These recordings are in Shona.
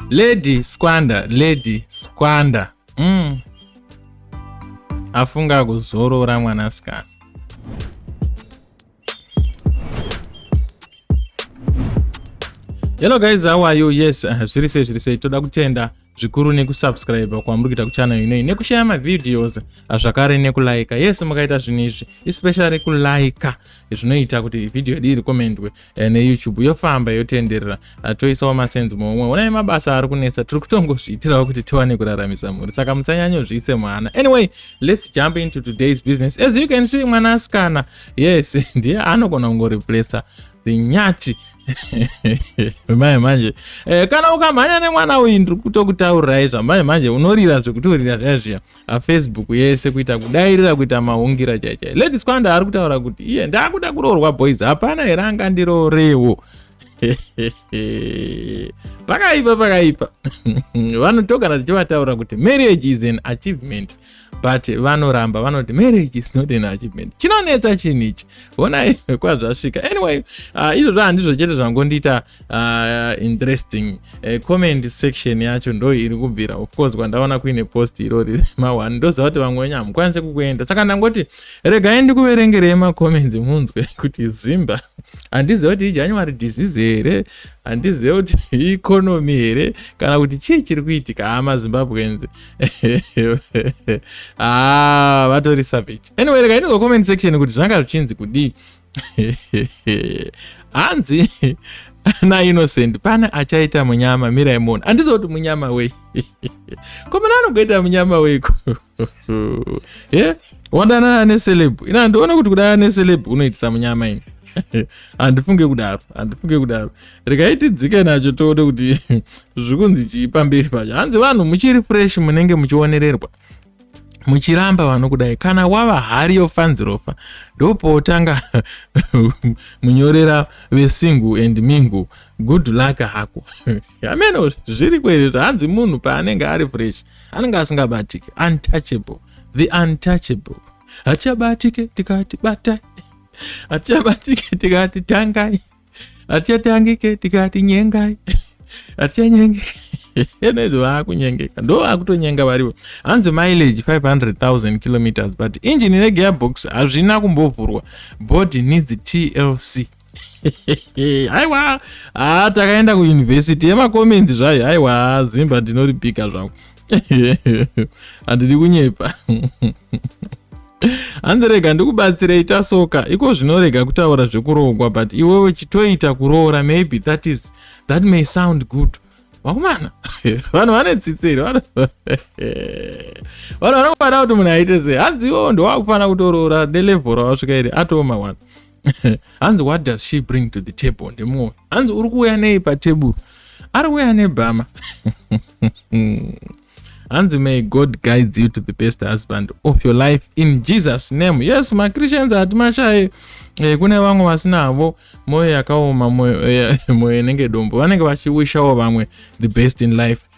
lady squander lady squander mm. afunga kuzorora mwanasikana hello guys how are you yes uh, zviri sei zviri sei toda kutenda zvikuru nekusubscribe kwamuri kuita kuchannel inoyi nekushaya mavideos zvakare nekulaika yes mukaita zvinhu izvi especially kulaika zvinoita kuti video yedu iri komendwe eh, neyoutube yofamba yotenderera ah, toisawo masenzi momwe onai mabasa ari kunetsa tiri kutongozviitirawo kuti tiwane kuraramisa mhuri saka musanyanyozviise mwana anyway let's jump into today's business as you can see mwanasikana yes ndiye anogona kungoreplacer dzinyati manje manje eh, kana ukamhanya nemwana uyu ndiri kutokutaurirai zvamanje manje unorira zvekutorira zviya zviya afacebook yese kuita kudairira kuita mahungira chaichai lady squanda ari kutaura kuti iye ndakuda kuroorwa boys hapana here angandiroorewo pakaipa pakaipa vanhu togara tichivataura kuti marriage is an achievement but vanoramba vanoti marriage is not an achievement chinonetsa chinhu ichi honai kwazvasvika anyway uh, izvozvo handizvo chete zvangondiita uh, interesting uh, comment section yacho ndo iri kubvira of course kwandaona kuine post irori mahwani ndoziva kuti vamwe wenyu hamukwanise kukuenda saka ndangoti regai ndikuverengerei macomments munzwe kuti zimba handiziva kuti ijanuary disease here handiziva kuti ieconomy here kana kuti chii chiri kuitika hama zimbabwenzi ah vatori savage anyway rega inongo comment section kuti zvanga zvichinzi kudii hanzi na innocent pane achaita munyama mirai mona handizo kuti munyama wei ko muna anogoita munyama weiko e wadanana neceleb ina handione kuti kudanana neceleb unoitisa munyama ini handifunge kudaro handifunge kudaro regai tidzike nacho toone kuti zviri kunzi chii pamberi pacho hanzi vanhu muchiri fresh munenge muchionererwa muchiramba vanhu kudai kana wava hari yofanzirofa ndopotanga munyorera vesingu and mingu good luck hako hameno zviri kwere zvahanzi munhu paanenge ari fresh anenge asingabatike untouchable the untouchable hatichabatike tikati batai hatichabatike tikati tangai hatichatangike tikati nyengai hatichanyengeka enoizvo vaakunyengeka ndo vakutonyenga varivo hanzi mileage 500000 kilometers but engine negearbox hazvina kumbovhurwa body needs tlc aiwa haa takaenda kuuniversity yemacomenzi zvayo aiwa zimba ndinoripika zvangu handidi kunyepa hanzi rega ndikubatsirei tasoka iko zvinorega kutaura zvekuroogwa but iwewe chitoita kuroora maybe that is that may sound good vakomana vanhu vane tsitsi here vanhu vanongada kuti munhu aite sei hanzi iwewo ndowakufanira kutoroora nelevhora wasvika here atoma one hanzi what does she bring to the table ndimwoyo hanzi uri kuuya nei pateburu ari kuuya nebhama hanzi may god guides you to the best husband of your life in jesus name yes machristians hati mashaye eh, kune vamwe vasina havo mwoyo yakaoma mwoyo eh, inenge dombo vanenge vachiwishawo vamwe the best in life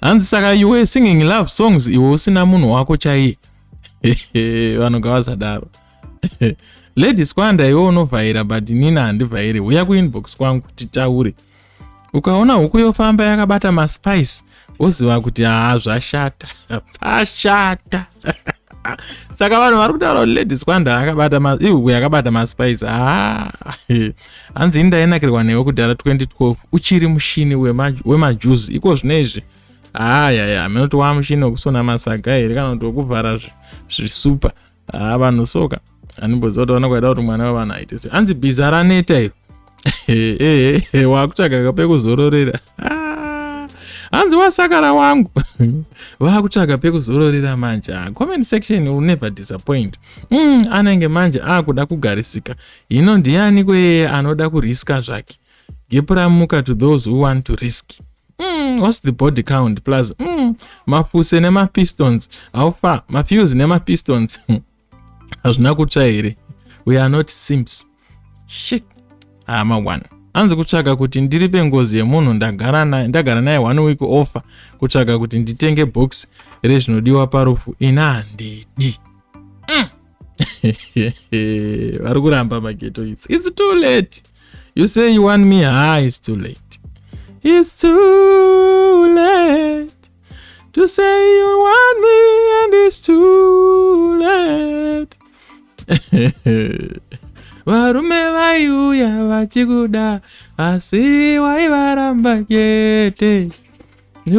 hanzi saka you were singing love songs iwe usina munhu wako chaiye vanhu ngavasadaro ladies kwanda iwe unovhaira but nina handivhairi huya kuinbox kwangu titaure ukaona huku yofamba yakabata maspice woziva kuti haa zvashata pashata saka vanhu vari kutaura kuti lady squanda yakabata maspice ah, hanzi ini ndainakirwa newe kudhara 2012 uchiri mushini wemajuzi iko zvino izvi ayaya ah, amene kuti wamushini wekusona masaga here kana kuti wekuvhara zvisupa ah, vanhu soka so animboziva kuti vanenge vaida kuti mwana wevanhu aite se hanzi bhiza raneta iro waakutsvaga kapekuzororera ah, hanzi wasakara wangu vaakutsvaga pekuzororera manje ah, comment section will never disappoint mm, anenge manje akuda ah, kugarisika hino ndiani kweye anoda kuriska zvake gepuramuka to those who want to risk Mm, what's the body count plus mm, mafuse nemapistons how far mafuse nemapistons hazvina kutsva here we are not sims shit hama ah, one anzi kutsvaga kuti ndiripe ngozi yemunhu ndagara naye ndagara naye one week offer kutsvaga kuti nditenge box rezvinodiwa parufu ini handidi mm. vari kuramba mageto its its too late you say you want me ha ah, its too late its too late To say you want me and it's too late. varume vaiuya vachikuda asi waivaramba chete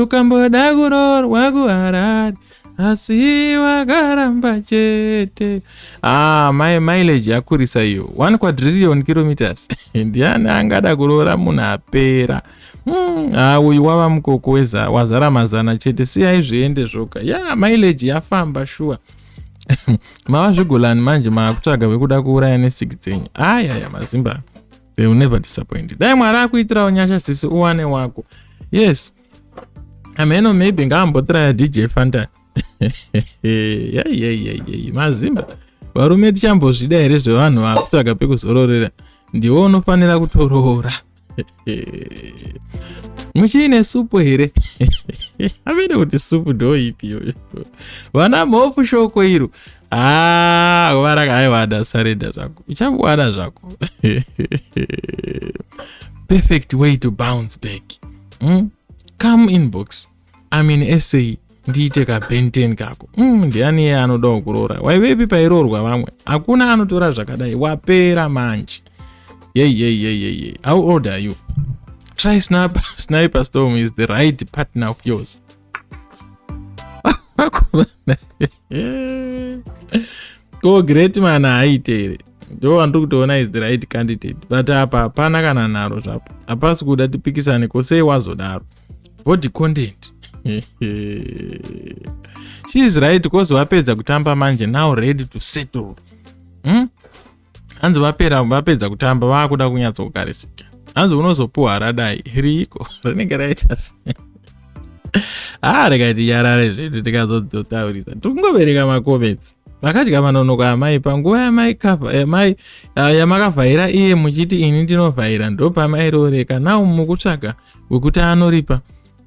ukamboda kuroorwa kuharari asi wakaramba chete ah, my mileage yakurisa iyo 1 quadrillion kilometers ndiani angada kuroora munhu apera Hmm, ah, uyu wava mukoko weza wazara mazana chete siyai zviende zvoga ya yeah, mileji yafamba shuwa mava zvigolani manje maakutsvaga vekuda kuuraya nesiki dzenyu ayaya mazimba they will never disappoint dai mwari akuitirawo nyasha sisi uwane wako yes ameno maybe ngaambotiraya dj fantan yaiyaiyaiyayi mazimba varume tichambozvida here zvevanhu vakutsvaga pekuzororera ndiwo unofanira kutoroora muchiine supu here amene kuti supu ndoipi iyoyo vana mhofu shoko iro haa kuvaraka aiwada sarenda zvako uchangowana zvako perfect way to bounce back mm? come inbox I'm in SA ndiite ka benten kako mm, ndiani iye anodawo kuroora waivepi pairoorwa vamwe hakuna anotora zvakadai wapera manje yeyeyeyeyeyi how old are you try sniper, sniper storm is the right partner of yours ko great man haaite here ndo wandiri kutoona is the right candidate but apa hapana kana nharo zvapo hapasi kuda tipikisane ko sei wazodaro body content she is right cause vapedza kutamba manje now ready to settle hmm? hanzi vapera vapedza kutamba vakuda kunyatsa kukarisika hanzi unozopuwa radai riiko rinenge raita haa ah, rekaiti yarare zvedu tikazotaurisa tikungovereka makoments vakadya manonoka amai panguva yamai yamai ah, yamakavhaira iye muchiti ini ndinovhaira ndopamairooreka nau mukutsvaga wekuti anoripa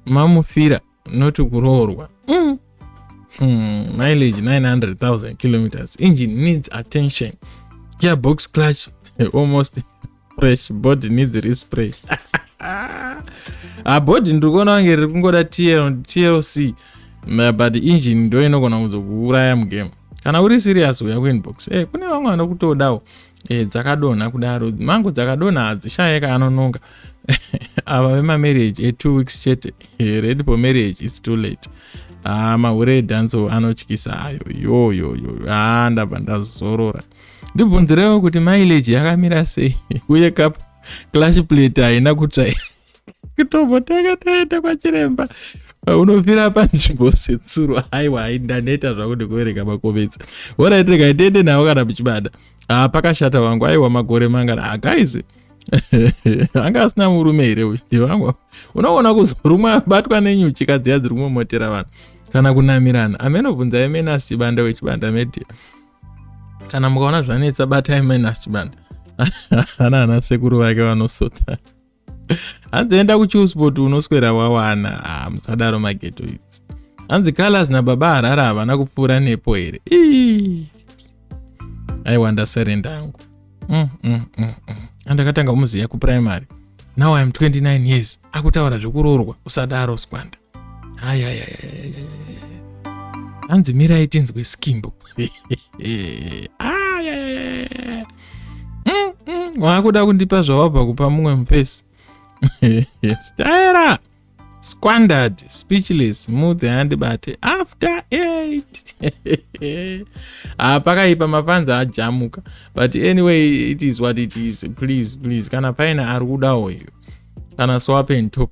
mamufira not kuroorwa mm. hmm, mileage 900000 kilometers engine needs attention gearbox clutch almost fresh body needs respray abody ah, ndiri kuona vange riri kungoda tlc but engine ndo inogona kuzokuuraya mugame kana uri serious uya kuinbox e eh, kune vamwe vanokutodawo e, dzakadonha kudaro mango dzakadonha hadzishaye kaanononga ava vemamarriage etwo eh, weeks chete eh, ready for marriage its too late haa ah, mahure edanso anotyisa ayo yoyoyo haa ah, ndabva ndazorora ndibvunzirewo kuti mileage yakamira sei uye kap clash plate haina kutsvaira kutombotanga taenda kwachiremba unofira panzvimbo setsuro haiwa hai ndaneta zvangu ndikuvereka makovetsi orit rega ndiende navo kana muchibada haa ah, pakashata wangu aiwa makore mangana ah, guys anga asina murume here uyu ndivangu unoona kuzorumwa abatwa nenyuchi kadziya dziri kumomotera vanhu kana kunamirana amene obvunza yemene asi chibanda wechibanda media kana mukaona zvanetsa batai mene asi chibanda ana ana sekuru vake vanosota hanzi enda kuchiusport unoswera wawana ah, musadaro mageto idzi hanzi colors nababa harara havana kupfuura nepo here aiwa ndaserenda yangu mm, mm, mm, mm. andakatanga kumuziva kuprimary now iam 29 years akutaura zvekuroorwa usadaro skwanda hanzi mirai tinzwe skimbo waakuda mm, mm, kundipa zvawabva kupa mumwe mufesi staera squandered speechless move the hand bate after eight ah pakaipa mafanzi ajamuka but anyway it is what it is please please kana paine ari kuda uyu kana swapen top